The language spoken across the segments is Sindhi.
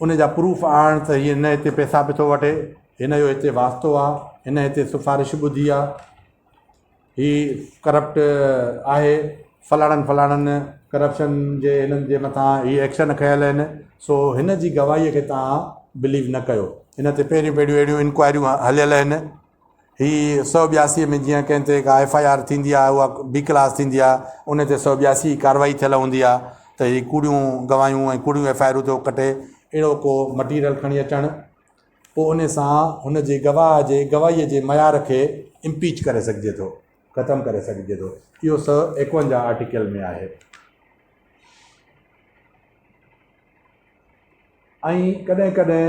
ان جا پروف آڻ ته هيء نه هتي پئسا به ٿو وٺي، هن جو هتي واسطو آ، هن هتي سفارش ٻڌي آ، هي ڪرپٽ آهي، فلاڻن فلاڻن ڪرپشن جي هنن جي مٿان هي ايڪشن کنيل آهن، سو هن جي گواهيء کي توهان بليو نه ڪيو، هن تي پهريون پهريون اهڙيون انڪوائريون هليل آهن. هي سؤ ٻياسي ۾ جيئن ڪنهن تي ڪا ايف آء آر ٿيندي آهي اها بي ڪلاس ٿيندي آهي ان تي سؤ ٻياسي جي ڪارروائي ٿيل هوندي آهي ته هي ڪوڙيون گواهيون ۽ ڪوڙيون ايف آء آرون ٿو ڪٽي اهڙو ڪو مٽيريل کڻي اچڻ پوء ان سان هن جي گواهه جي گواهيء جي معيار کي امپيچ ڪري سگهجي ٿو ختم ڪري سگهجي ٿو اهو سؤ ايڪونجاهه آرٽيڪل ۾ آهي ۽ ڪڏهن ڪڏهن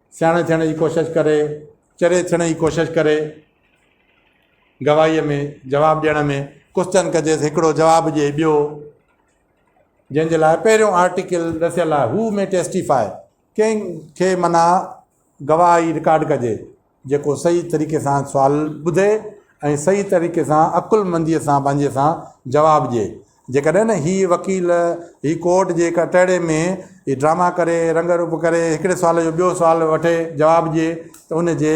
سياڻي ٿيڻ جي ڪوشش ڪري، چري ٿيڻ جي ڪوشش ڪري، گواهيء ۾ جواب ڏيڻ ۾ ڪوسچن ڪجيس، هڪڙو جواب ڏئي ٻيو، جنهن جي لاء پهريون آرٽيڪل ڏسيل آهي، هو مي ٽيسٽيفائي، ڪنهن کي معنيٰ گواهه ئي رڪارڊ ڪجي، جيڪو صحيح طريقي سان سوال ٻڌي ۽ صحيح طريقي سان عقلمنديء سان پنهنجي سان جواب ڏئي. جيڪڏهن نه هي وڪيل هي ڪورٽ جي ڪٽهڙي ۾ هي ڊراما ڪري رنگ روپ ڪري هڪڙي سوال جو ٻيو سوال وٺي جواب ڏئي ته ان جي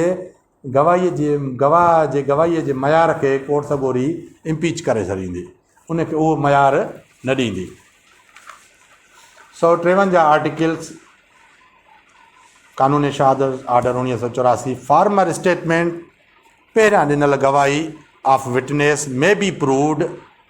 گواهي جي گواهه جي گواهي جي معيار کي ڪورٽ سڳوري امپيچ ڪري ڇڏيندي ان کي اهو معيار نه ڏيندي سو ٽيونجاهه آرٽيڪلس قانون شهادت آرڊر اوڻيهه سو چوراسي فارمر اسٽيٽمنٽ پهريان ڏنل گواهي of witness may be proved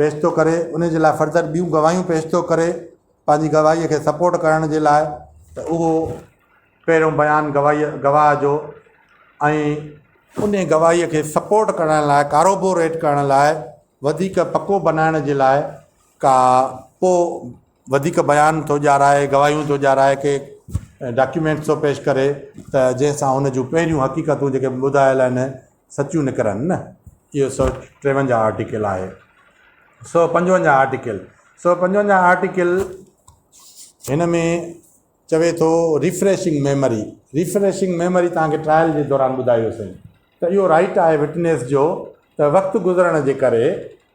پيش ٿو ڪري انهي جي لاء فرضر ٻيون گواهيون پيش ٿو ڪري پنهنجي گواهي کي سپورٽ ڪرڻ جي لاء ته اهو پهريون بيان گواهي گواهه جو ۽ انهي گواهي کي سپورٽ ڪرڻ لاء ڪاروبوريٽ ڪرڻ لاء وڌيڪ پڪو بنائڻ جي لاء ڪا پو وڌيڪ بيان ٿو ڄارائي گواهيون ٿو ڄارائي ڪي ڊاڪيومينٽس ٿو پيش ڪري ته جنهن سان ان جون پهريون حقيقتون جيڪي ٻڌايل آهن سچيون نڪرن نه. اهو سؤ ٽيونجاهه آرٽيڪل آهي. سؤ پنجونجاهه آرٽيڪل سؤ پنجونجاهه آرٽيڪل هن ۾ چوي ٿو ريفريشنگ ميموري ريفريشنگ ميموري توهان کي ٽرائل جي دوران ٻڌايو سين ته اهو رائيٽ آهي وٽنيس جو ته وقت گذرڻ جي ڪري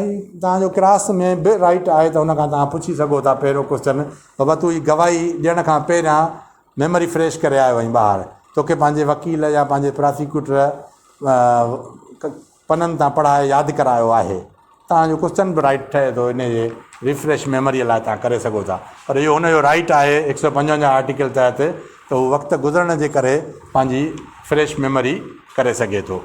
۽ توهان جو ڪراس ۾ به رائيٽ آهي ته ان کان توهان پڇي سگهو ٿا پهريون ڪوسچن بابا تون هي گواهي ڏيڻ کان پهريان ميموري فريش ڪري آيو آهين ٻاهر توکي پنهنجي وڪيل يا پنهنجي پراسيڪيوٽر پنن تان پڙهائي ياد ڪرايو آهي توهان جو ڪوسچن به رائيٽ ٺهي ٿو ان جي ريفريش ميموري لاء توهان ڪري سگهو ٿا پر اهو ان جو رائيٽ آهي هڪ سو پنجونجاهه آرٽيڪل تحت ته هو وقت گذرڻ جي ڪري پنهنجي فريش ميموري ڪري سگهي ٿو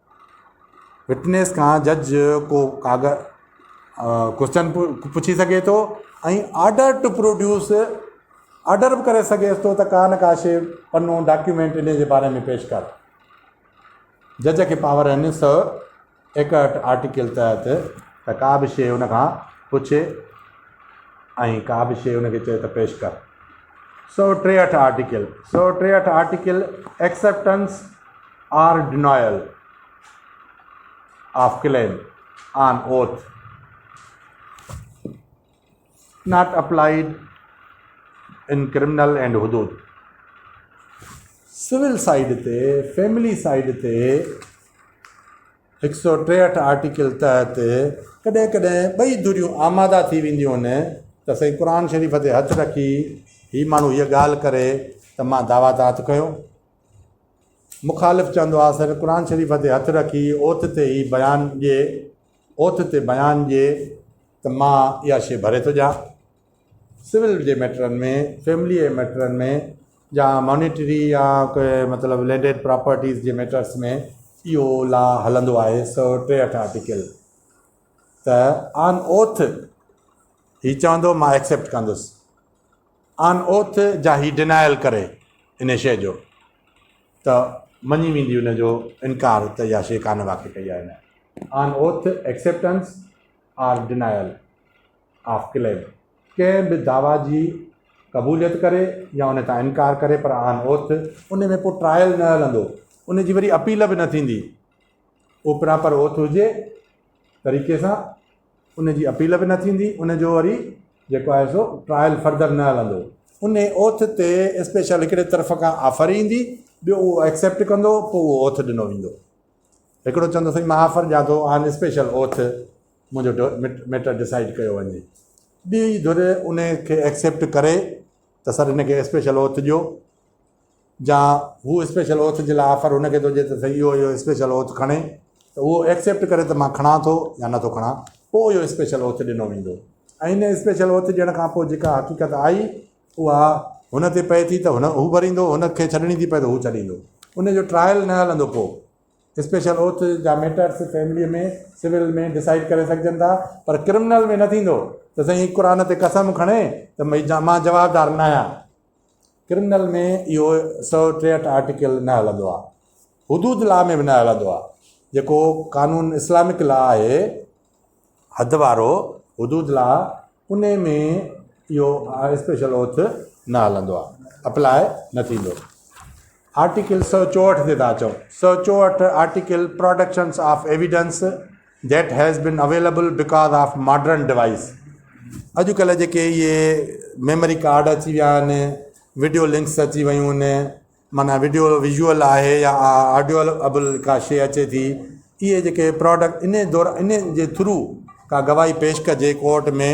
وٽنيس کان جج ڪو ڪوشچن پڇي سگهي ٿو ۽ آرڊر ٽو پروڊيوس آرڊر به ڪري سگهيس ٿو ته ڪا نه ڪا شيء پنو ڊاڪيومينٽ ان جي باري ۾ پيش ڪر جج کي پاور آهن سو ايڪهٺ آرٽيڪل تحت ته ڪا به شيء ان کان پڇي ۽ ڪا به شيء ان کي چئي ته پيش ڪر سو ٽيهٺ آرٽيڪل سو ٽيهٺ article acceptance or denial of claim on oath not applied in criminal and حدود سول سائيڊ تي فيملي سائيڊ تي هڪ سو ٽيهٺ آرٽيڪل تحت ڪڏهن ڪڏهن ٻئي دوريون آماده ٿي وينديون آهن ته سائين قرآن شريف تي هٿ رکي هي ماڻهو هيء ڳالهه ڪري ته مان دعويٰ ته هٿ کنيو مخالف چوندو آ سر قرآن شريف تي هٿ رکي اوت تي هي بيان ڏي اوت تي بيان ڏي ته مان اها شي ڀري ٿو ڏيان سول جي ميٽرن ۾ فيملي جي ميٽرن ۾ يا مانيٽري يا مطلب لينڊيڊ پراپرٽيز جي ميٽرس ۾ اهو لا هلندو آهي سو ٽيهٺ آرٽيڪل ته آن اوٿ هي چوندو مان ايڪسيپٽ ڪندس آن اوٿ جا هي ڊنائل ڪري انهي شيء جو ته مڃي ويندي ان جو انڪار ته اها شيء ڪانه واقع ڪئي آهي نه on oath acceptance or denial of claim ڪنهن به دعويٰ جي قبوليت ڪري يا ان تان انڪار ڪري پر آن اوٿ ان ۾ پوء ٽرائل نه هلندو ان جي وري اپيل به نه ٿيندي اوپرا پر اوٿ هجي طريقي سان ان جي اپيل به نه ٿيندي ان جو وري جيڪو آهي سو ٽرائل فرڌر نه هلندو ان اوٿ تي اسپيشل هڪڙي طرف کان آفر ايندي ٻيو اهو ايڪسيپٽ ڪندو پوء اهو اوٿ ڏنو ويندو هڪڙو چوندو سائين مان آفر ڏيان ٿو آن اسپيشل اوٿ منهنجو ميٽر ڊسائڊ ڪيو وڃي ٻي ڌر ان کي ايڪسيپٽ ڪري ته سر ان کي اسپيشل اوٿ ڏيو جا هو اسپيشل اوٿ جي لاء آفر هن کي ٿو ڏي ته سائين اهو اهو اسپيشل اوٿ کڻي ته اهو ايڪسيپٽ ڪري ته مان کڻان ٿو يا نٿو کڻان پوء اهو اسپيشل اوٿ ڏنو ويندو ۽ ان اسپيشل اوٿ ڏيڻ کان پوء جيڪا حقيقت آئي اها هن تي پئي ٿي ته هن هو ڀريندو هن کي ڇڏڻي ٿي پئي ته هو ڇڏيندو ان جو ٽرائل نه هلندو پوء اسپيشل اوٿ جا ميٽرس فيمليء ۾ سول ۾ ڊسائڊ ڪري سگهجن ٿا پر ڪرمنل ۾ نه ٿيندو ته سائين قرآن تي قسم کڻي ته مان جوابدار نه آهيان ڪرمنل ۾ اهو سؤ ٽيهٺ آرٽيڪل نه هلندو آهي حدود لا ۾ به نه هلندو آهي جيڪو قانون اسلامڪ لا آهي حد وارو حدود لا ان ۾ اهو اسپيشل اوٿ نه هلندو آهي اپلاء نه ٿيندو آرٽيڪل سؤ چوهٺ تي ٿا اچو. سؤ چوهٺ article productions of evidence that has been available because of modern device اڄڪلهه جيڪي اهي ميموري ڪارڊ اچي ويا آهن وڊيو لنڪس اچي ويون آهن معنيٰ وڊيو ويزوئل آهي يا آڊيو ابل ڪا شي اچي ٿي اهي جيڪي پراڊڪٽ ان دور ان جي ٿرو ڪا گواهي پيش ڪجي ڪورٽ ۾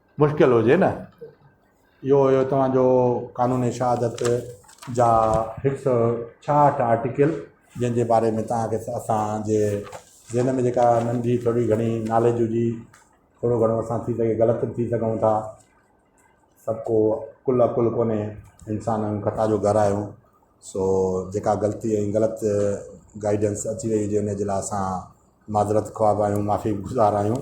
مشڪل هجي نه اهو هيو توهان جو قانون شهادت جا هڪ سئو ڇاهٺ آرٽيڪل جنهن جي باري ۾ توهان کي اسان جي ذهن ۾ جيڪا ننڍي ٿوري گهڻي ناليج هجي ٿورو گهڻو اسان ٿي سگهي غلط به ٿي سگهون ٿا سڀ ڪو ڪل اڪل ڪونهي انسان آهيون خطا جو گهر آهيون سو جيڪا غلطي ۽ غلط گائيڊنس اچي وئي هجي ان جي لاء اسان معذرت خواه به آهيون معافي گذار آهيون